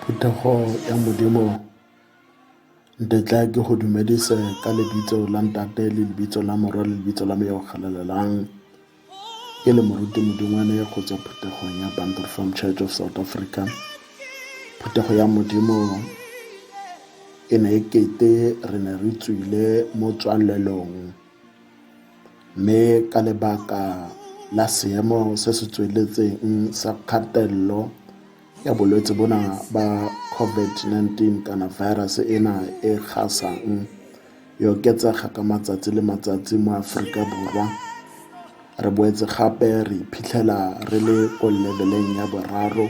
Phetogo ya Modimo ntetla ke go dumedise ka lebitso la ntate le lebitso la morwa le lebitso la me yo o galalelang Ke le moruti modingwane go tswa phuthegong ya Bantu Reformed Church of South Africa. Phuthego ya modimo e ne e kete re ne re tswile mo tswalelong mme ka lebaka la seemo se se tsweletseng sa kgatelelo ya bolwetse bona ba COVID-19 kana virus ena e gasang e oketsega ka matsatsi le matsatsi mo Aforika Borwa re boetse gape re iphitlhela re le ko leveleng ya boraro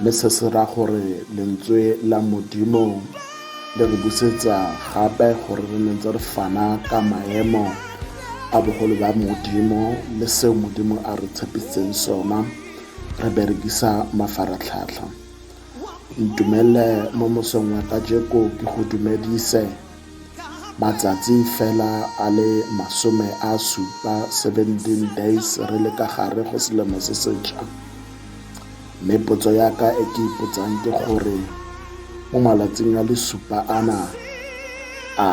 mme se se ra gore lentswe la modimo le re busetsa gape gore re nentse re fana ka maemo a bogolo ba modimo le seo modimo a re tshepisitseng sona re berekisa mafaratlhatlha ntumelele mo mosong wa kajeko ke go dumedise matsatsi fela a le masome a supa 17 days re le ka gare go selemo se setšha mme potso ya ka e ke ipotsang ke gore mo malatsing a le supa ana a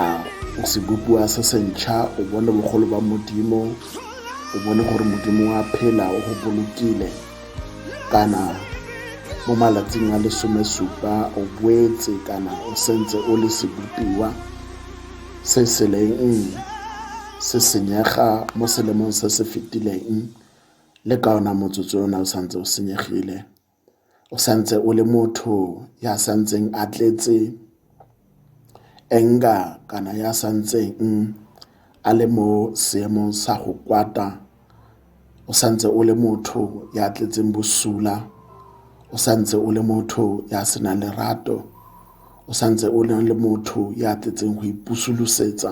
sebopiwa se sentšha o bone bogolo ba modimo o bone gore modimo wa phela o go bolokile kana mo malatsing a lesomesupa o boetse kana o sentse o le sebopiwa se se leng se senyega mo selemong se se fetileng le ka ona motsotso o ne o santse o senyegile o santse o le motho ya santseng a tletse enga kana ya santseng a le mo seemong sa go kwata o santse o le motho ya tletseng bosula o santse o le motho ya senang lerato o santse o le motho ya tletseng go ipusolosetsa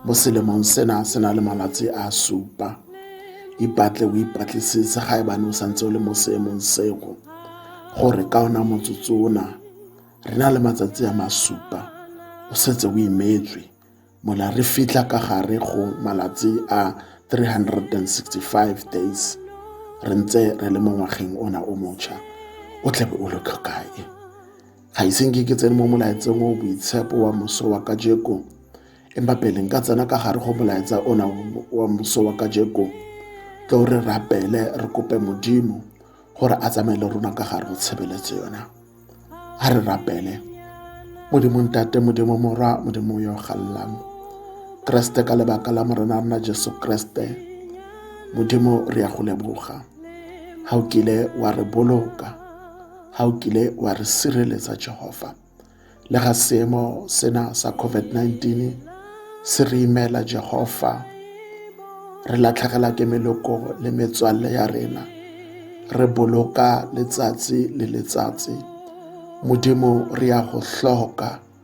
mo selemong sena se na le malatsi a supa ipatle o ipatlisitse ga ebane o santse o le mo seemong sego gore ka ona motsotso ona re na le matsatsi a masupa o setse o imetswe mola re fitlha ka gare go malatsi a 365 days re ntse re le mo ngwageng ona o mocha o tlabe o lo tlhokae ga iseng ke ke tsene mo molaetseng o boitshepo wa moso wa kajeko empa pele nka tsena ka gare go molaetsa ona wa moso wa kajeko tlo re rapele re kope modimo gore a tsamaye le rona ka gare go tshebeletso yona a re rapele modimo ntate modimo morwa modimo yo gallang kreste ka lebaka la morena rona jesu kreste modimo re ya go leboga ga o kile wa re boloka ga o kile wa re sireletsa Jehova. Le ga seemo sena sa COVID-19 se re imela Jehova, re latlhegela ke meloko le metswalle ya rena re boloka letsatsi le letsatsi modimo re ya go hloka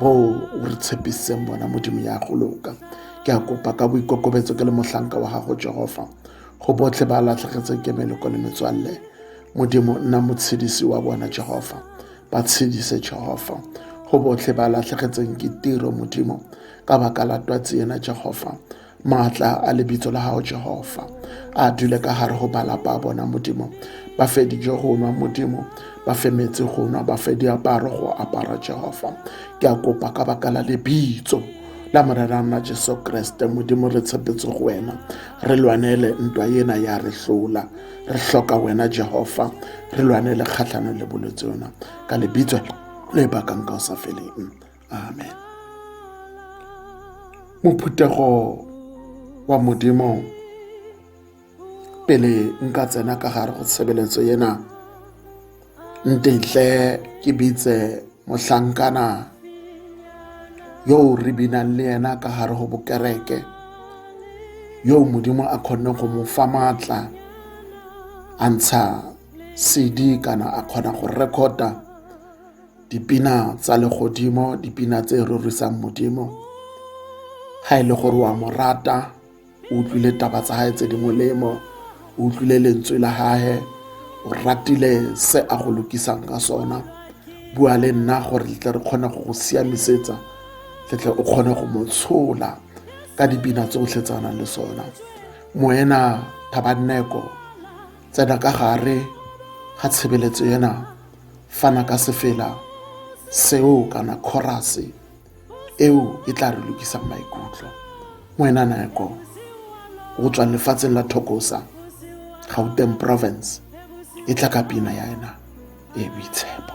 bo o re tshepisitseng bona modimo ya go loka ke a kopa ka boikokobetso ke le mohlanka wa gago jehofa go botlhe ba latlhegetseng ke meleko le metswalle modimo nna motshedisi wa bona jehofa ba tshedise jehofa go botlhe ba latlhegetseng ke tiro modimo ka baka la twatsi ena jehofa Maatla a lebitso la gago Jehova a dule ka gare go balapa a bona Modimo ba fe dijo go nwa Modimo ba fe metsi go nwa ba fe diaparo go apara Jehova ke a kopa ka baka la lebitso la morera nna jesu kreste modimo re tshepetse go wena re lwanele ntwa ena ya re hlola re hloka wena jehova re lwanele kgatlhanong le bolwetse yona ka lebitso le bakang ka o sa feleng amen mophuthego wa modimo pele nka tsena ka gare go tshebeletso ena ntetle ke bitse mohlankana yo re binang le yena ka gare go bokereke yo modimo a kgonne go mo fa maatla a ntsha cd kana a kgona go recorda dipina tsa legodimo dipina tse rorisang modimo ga e le gore wa mo rata o utlwile taba tsa gae tse di molemo o utlwile lentswe la gage o ratile se a go lokisang ka sona bua le nna gore tle re kgone go go siamisetsa tletle o kgone go mo tshola ka dipina tsotlhe tsa nang le sona moena thabanneko tsena ka gare ga tshebeletso ena fana ka sefela seo kana khorase eo e tla re lokisang maikutlo ngwena nako go tswa lefatsheng la thokosa gauteng province e tla ka pina ya ena e boitshepo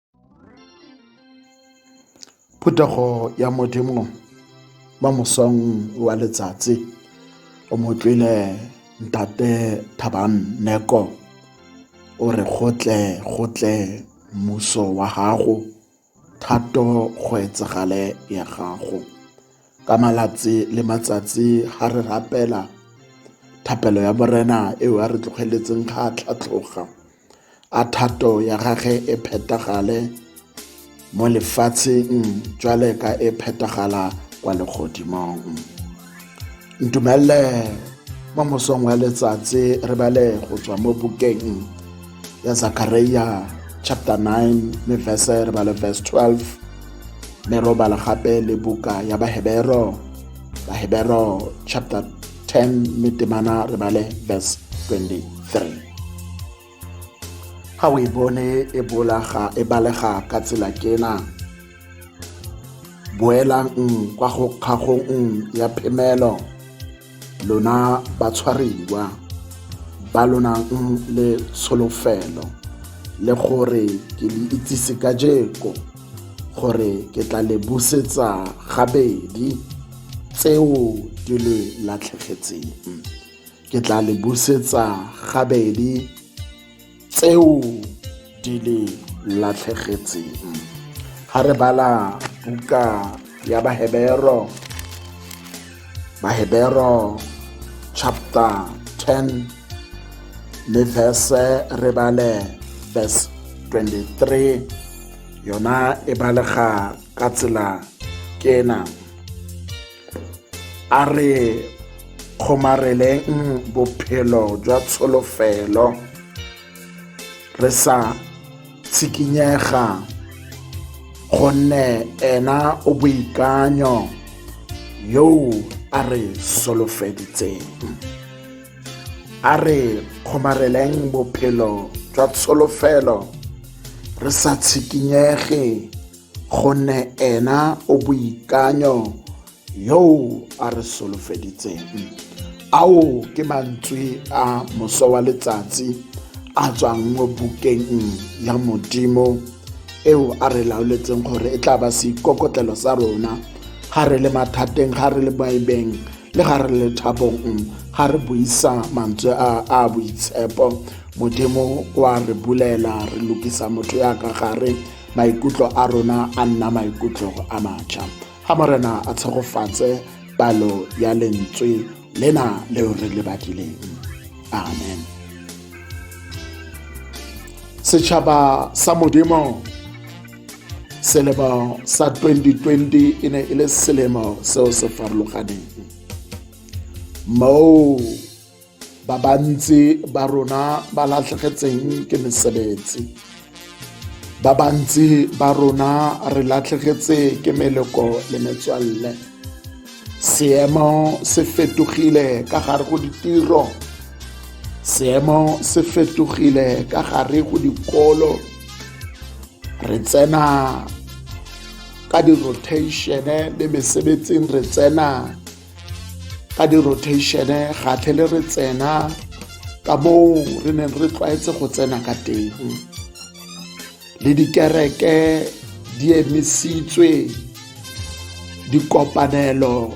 Phuthego ya Modimo ba mosong wa letsatsi o motlwile ntate Thabang Neko o re gotle gotle mmuso wa gago thato go etsagale ya gago ka malatsi le matsatsi ga re rapela thapelo ya morena eo a re tlogeletseng ga a tlhatlhoga a thato ya gage e phethagale mo lefatsheng jwale ka e phethagala kwa legodimong ntumelele mo mosong wa letsatsi re bale go tswa mo bukeng ya zakaria chapter 9 me verse re bale verse 12 me robala gape le buka ya bahebero bahebero chapter 10 mme temana re bale verse 23 ga o e bone e bolaga e balega ka tsela kena boelang kwa go kgagong ya phemelo lona batshwariwa ba lonang le tsholofelo le gore ke le itsise ka jeko gore ke tla le busetsa gabedi tseo di le latlhegetseng ke tla le busetsa gabedi tseo di le latlhegetseng ga re bala buka ya bahebero Mahebero chapter 10 le verse re bale verse 23 yona e balega ka tsela ke ena a re kgomareleng bophelo jwa tsholofelo re sa tshikinyega gonne ena o boikanyo yo a re solofeditseng a re kgomareleng bophelo jwa tsholofelo re sa tshikinyege gonne ena o boikanyo yo a re solofeditseng ao ke mantswe a moso wa letsatsi a tswang mo bukeng ya modimo eo a re laoletseng gore e tla ba seikokotlelo sa rona ga re le mathateng ga re le baebeng le ga re le thabong ga re buisa mantswe a a boitshepo modimo wa re bulela re lokisa motho ya ka gare maikutlo a rona a nna maikutlo a matšha ga morena a tshegofatse palo ya lentswe lena leo re le badileng amen setšhaba sa modimo selemo sa 2020 e ne e le selemo seo se farologaneng moo ba bantsi ba rona ba latlhegetseng ke mesebetsi ba bantsi ba rona re latlhegetse ke meleko le metswalle seemo se fetogile ka gare go ditiro seemo se fetogile ka gare go dikolo re tsena ka di-rotation le mesebetsing re tsena ka di-rotation ga tlhele re tsena ka moo re neng re tlwaetse go tsena ka teng le dikereke di emisitswe dikopanelo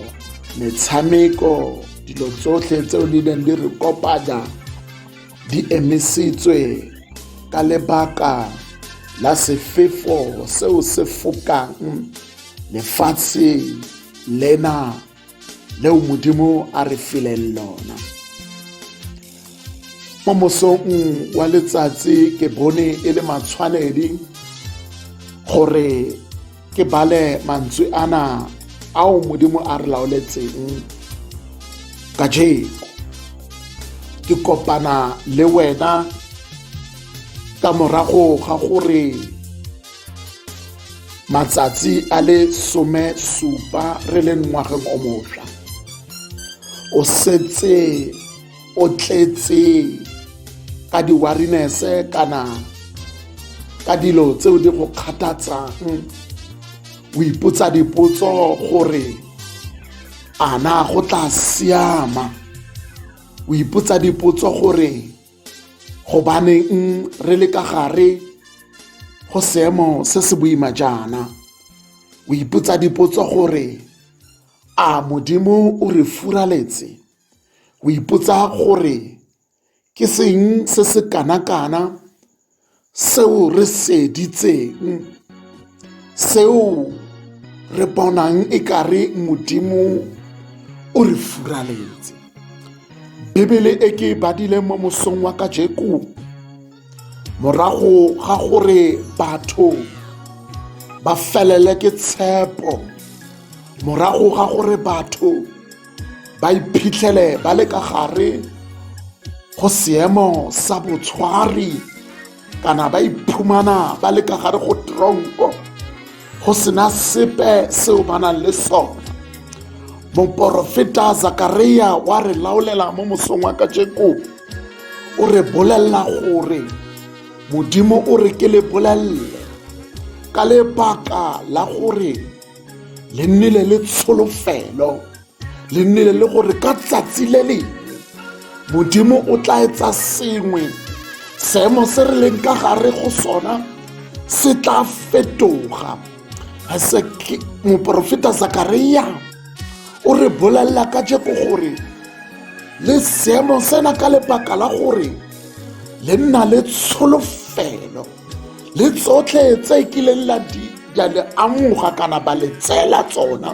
metshameko dilo tsotlhe tseo di neng di re kopanya di emisitswe ka lebaka la sefefo seo se fokang lefatshe lena leo modimo a re fileng lona mo mosong wa letsatsi ke bone e le matshwanedi gore ke bale mantswe ana ao modimo a re laoletseng ka jeko ke kopana le wena ka morago ga gore matsatsi a le some supa re le ngwageng o mošwa o setse o tletse ka di-warinese kana ka dilo tseo di go kgathatsang o ipotsa dipotso gore a na go tla siama o ipotsa dipotso gore gobaneng re le ka gare go seemo se se boima jaana o ipotsa dipotso gore a modimo o re furaletse o ipotsa gore ke seng se se kana-kana seo re se ditseng, seo re bonang e kare modimo o re furaletse bibele e ke e badile mo mosong wa kajeko morago ga gore batho ba felele ke tshepo morago ga gore batho ba iphitlhele ba le ka gare go seemo sa botshwari kana ba iphumana ba le ka gare go tronko go sena sepe seo ba nang le sone moporofeta zakaria wa re laolela mo mosong wa kajeko o re bolelela gore modimo o re ke le bolelele ka lebaka la gore le nnile le tsholofelo le nnile le gore ka tsatsi le le modimo o tla etsa sengwe seemo se re leng ka gare go sona se tla fetoga moporofeta zakaria o re bolelela ka jeko gore le seemo sena ka lebaka la gore le nna le tsholofelo le tsotlhe tse kileng la di ya le amoga kana ba le tseela tsona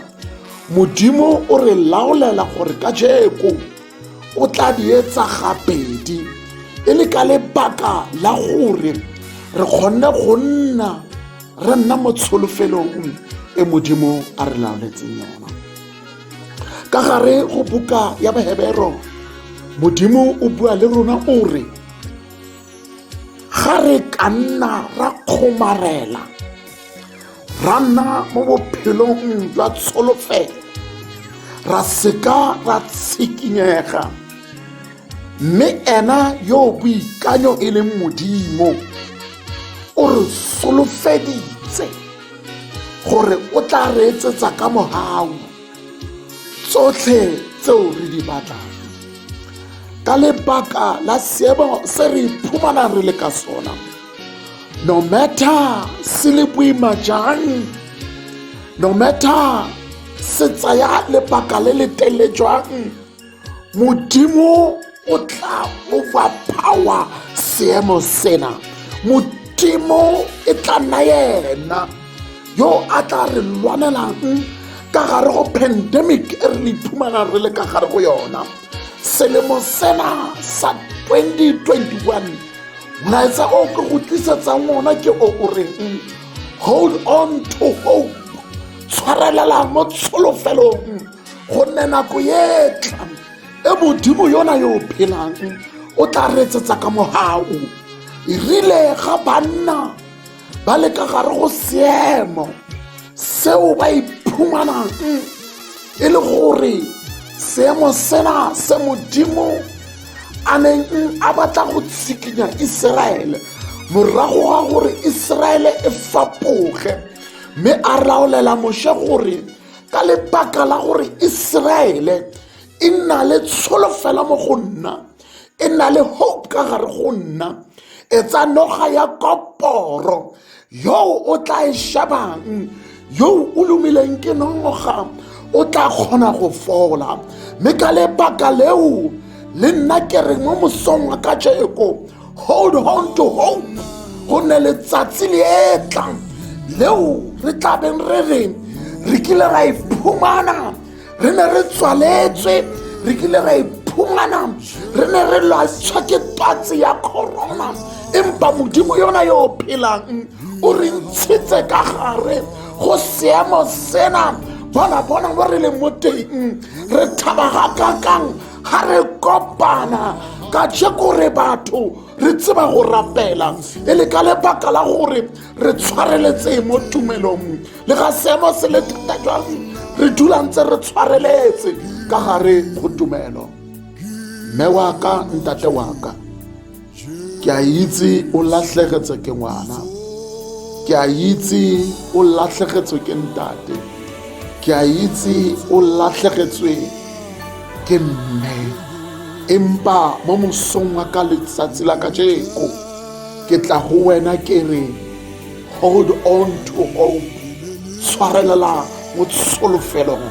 modimo o re laolela gore ka jeko o tla di etsa gabedi e le ka lebaka la gore re kgonne go nna re nna mo tsholofelong e modimo a re laoletseng yona ka gare go buka ya bahebero modimo o bua le rona o re ga re ka nna ra kgomarela ra nna mo bophelong jwa tsholofelo ra seka ra tshikinyega mme ena yo boikanyo e leng modimo o re solofeditse gore o tla reetsetsa ka mogau tsotlhe tseo re di batlang ka lebaka la seemo se re iphumanang re le ka sona no matter se le boima jang no matter se tsaya lebaka le le tele jwang modimo o tla overpower seemo sena modimo e tla nna yena yo a tla re lwanelang ka gare go pandemic e re le iphumana re le ka gare go yona selemo sena sa 2021 molaetsa o ke go tlisetsang ona ke o o reng hold on to hope tshwarelela mo tsholofelo gonne nako e tlang e modimo yona yo phelang o tla retsetsa ka mogao e rile ga banna ba le ka gare go seemo seo ba iphumanang e le gore seemo sena se modimo a neng a batla go tshikinya iseraele morago ga gore iseraele e fapoge mme a raolela moshe gore ka lebaka la gore iseraele e na le tsholofela mo go nna e na le hope ka gare go nna e tsa noga ya koporo yo o tla e shebang yo o lumileng ke noga o tla kgona go fola mme ka lebaka leo le nna ke reng mo mosong wa ka jeko hold on to hope go ne letsatsi le e tlang leo re tla beng re reng re kile ra iphumana re ne re tswaletswe re kile ra iphumana re ne re lwatshwa ke twatsi ya corona empa modimo yona yo o phelang o re ntshitse ka gare go seemo sena bona bona mo re leng mo teng re thaba ga kakang ga re kopana ka jeko re batho re tseba go rapela e le ka lebaka la gore re tshwareletseng mo tumelong le ga seemo se le thata jang re dula ntse re tshwareletse ka gare go tumelo mme wa ka ntate wa ka ke a itse o latlhegetswe ke ngwana ke a itse o latlhegetswe ke ntate ke a itse o latlhegetswe ke mme empa mo mosong wa ka letsatsi la kajeko ke tla go wena ke re hold on to hope tshwarelela mo tsolofelong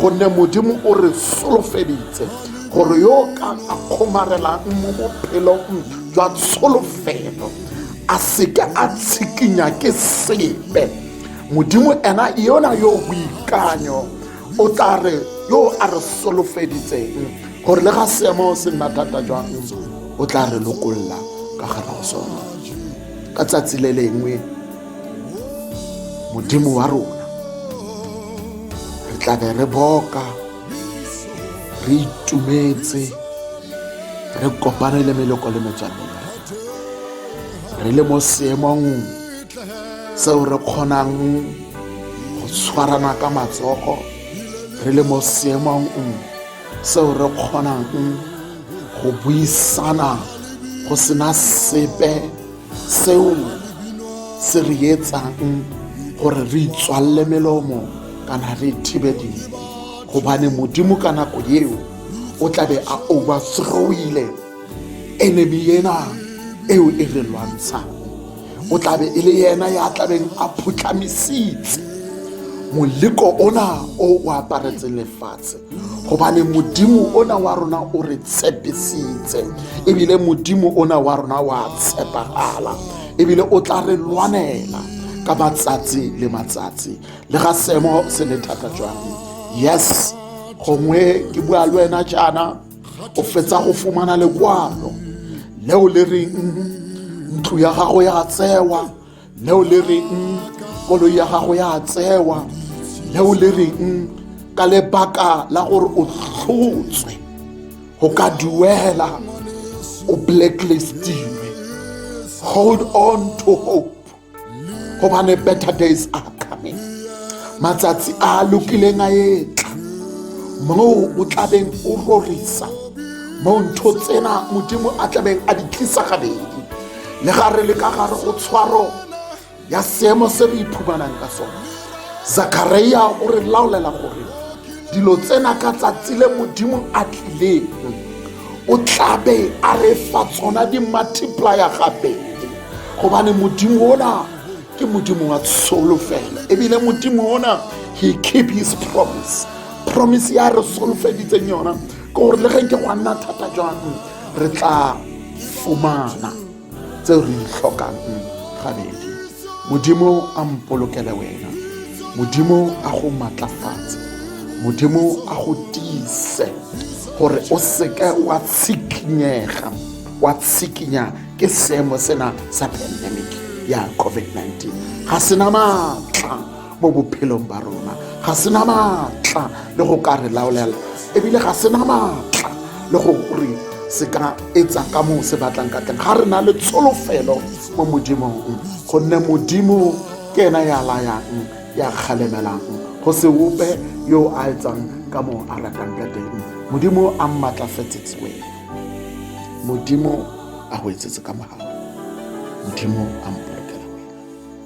gonne modimo o re solofeditse gore yo o ka a kgomarelang mo bophelong jwa tsholofelo a seke a tshikinya ke sepe modimo ena yona yo boikanyo o tla re yo a re solofeditseng gore le ga seemo se nna thata jwang o tla re lokolla ka gare go sone ka tsatsi le lengwe modimo wa rona re tla be re boka re itumetse re kopane le meloko le metswalle re le mo seemong seo re kgonang go tshwarana ka matsogo re le mo seemong seo re kgonang go buisana go sena sepe seo se re etsang gore re itswalele melomo kana re thibe dilo gobane modimo ka nako eo o tlabe a overthrowile enemy ena eo e re lwantshang o tlabe e le yena ya tlabeng a phutlhamisitse moleko ona o o aparetseng lefatshe gobane modimo ona wa rona o re tshepisitse ebile modimo ona wa rona wa tshepagala ebile o tla re lwanela ka matsatsi le matsatsi le ga seemo se le thata jwang yes gongwe ke bua le wena jaana o fetsa go fumana lekwalo leo le reng ntlo ya gago ya tsewa neo le reng koloi ya gago ya tsewa neo le reng ka lebaka la gore o tlhotswe go ka duela o blacklistilwe hold on to hope gobane better days are coming matsatsi a lokileng a etla moo o tlabeng o rorisa moo ntho tsena modimo a tlabeng a di tlisa gabedi le ga re le ka gare go tshwaro ya seemo se re iphumanang ka sone zakaria o re laolela gore dilo tsena ka tsatsi le modimo a tlileng o tlabe a re fa tsona di-multiplier gabedi gobane modimo ona ke modimo wa tsholofelo ebile modimo ona he keep his promise promise ya re solofeditseng yona ke gore le ge ke go a nna thata jang re tla fumana tseo re itlhokang gabedi modimo a mpolokele wena modimo a go matlafatse modimo a go tiise gore o seke wa tshikinyega wa tshikinya ke seemo sena sa pandemic ya covid-19 ga sena maatla mo bophelong ba rona ga se na maatla le go ka re laolela ebile ga se na maatla le go re se ka etsa ka moo se batlang ka teng ga re na le tsholofelo mo modimong gonne modimo ke ena ya layang ya kgalemelang go se ope yo a etsang ka moo a ratang ka teng modimo a mmatlafetsetse wena modimo a go etsetse ka mogao modimo a mpolokela wena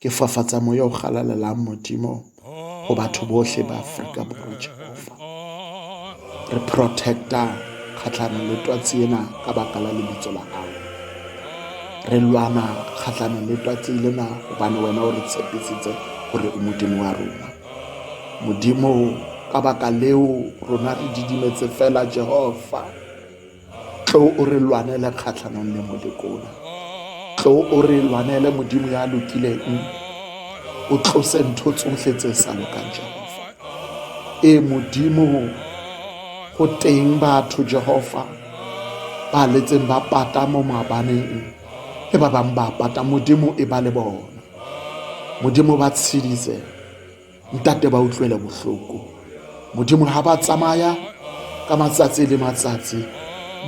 Ke fafatsa moya o galalelang modimo go batho botlhe ba aforika borwa jehofa re protecta kgatlhanong le twatsi ena ka baka la lebitso la gago re lwana kgatlhanong le twatsi lena gobane wena o re tshepisitse gore o modimo wa rona modimo ka baka leo rona re didimetse fela jehofa tlo o re lwanele kgatlhanong le molekola tlo o re lwanele modimo ya lokileng o tlose ntho tsotlhe tse sa lokang jehova e modimo go teng batho jehova ba letseng ba pata mo maabaneng le ba bangwe ba pata modimo e ba le bona modimo ba tshedise Ntate ba utlwele bohloko. Modimo ha ba tsamaya ka matsatsi le matsatsi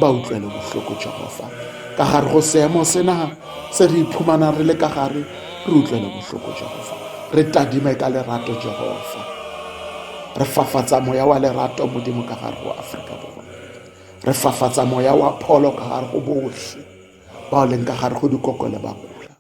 ba utlwele bohloko Jehova. Ka gare go seemo sena se re iphumana re le ka gare re utlwele bohloko Jehova. Re tadime ka lerato Jehova. Re fafatsa moya wa lerato Modimo ka gare go Afrika Borwa. Re fafatsa moya wa pholo ka gare go bohle bao leng ka gare go dikoko le bakula.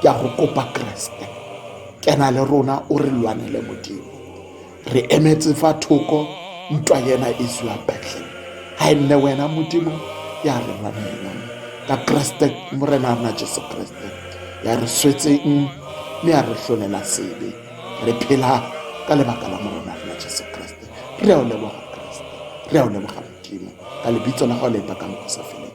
ke a go kopa keresete kena le rona o re lwanele modimo re emetse fa thoko ntwa yena e zwa betleng ga e nne wena modimo ya re lwanela ka keresete morena rona jesu keresete ya re swetseng mme ya re tlholela sebe re phela ka lebaka la morona rona jesu keresete re a o leboga keresete re a o leboga modimo ka lebitso la gago le bakang go sa feleng